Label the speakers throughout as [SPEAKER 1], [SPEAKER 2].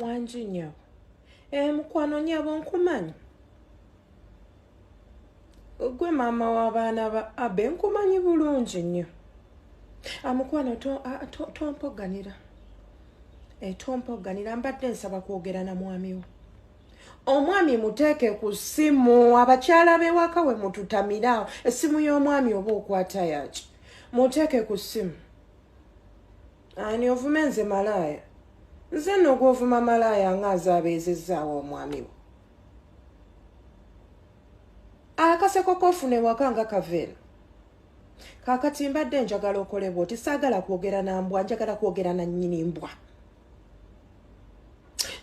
[SPEAKER 1] wangi nyo eh, mukwano nyabo nkumanyi gwe maama w'abaana ba abe nkumanyi bulungi nnyo amukwano ah, tompoganira to, to etompa oganira mbadde nsaba kwogera na mwami wo omwami muteeke ku ssimu abakyala bewaka we mututamiraawo essimu y'omwami oba okwata yaki muteeke ku ssimu ani ovuma enze malaaya nze nno gwovuma malaaya nga azaabeezezzaawo omwami wo akaseko kofuna ewaka nga kaveeno kakati mbadde njagala okolebwa oti saagala kwogera na mbwa njagala kwogera na nnyini mbwa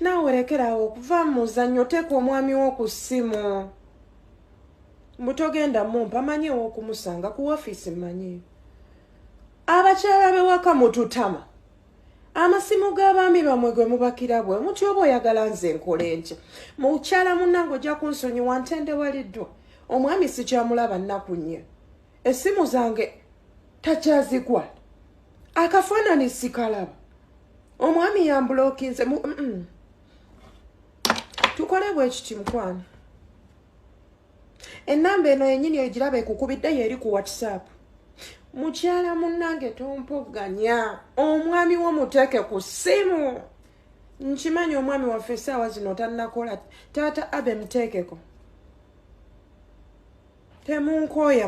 [SPEAKER 1] naawe lekeraawo okuva mu muzannyo oteeka omwami wo ku ssimu mbu togenda mumpa manyi ew'okumusanga ku ofiisi manyi abakyala bewaka mututama amasimu g'abaami bamwe gwe mubakira bwe muti oba oyagala nze nkola enkya mukyala munnange ojja kunsonyiwa ntendewaliddwa omwami sikyamulaba nnaku nnyo essimu zange takyazigwa akafaanani sikalaba omwami yambulokinze tukole bwekiti mukwano enamba eno yenyini ogiraba ekukubidde yeeri ku whatsapp mukyala munnange tompogganya omwami wo muteeke ku ssimu nkimanyi omwami waffe esaawa zino tanakola taata abe muteekeko temunkooya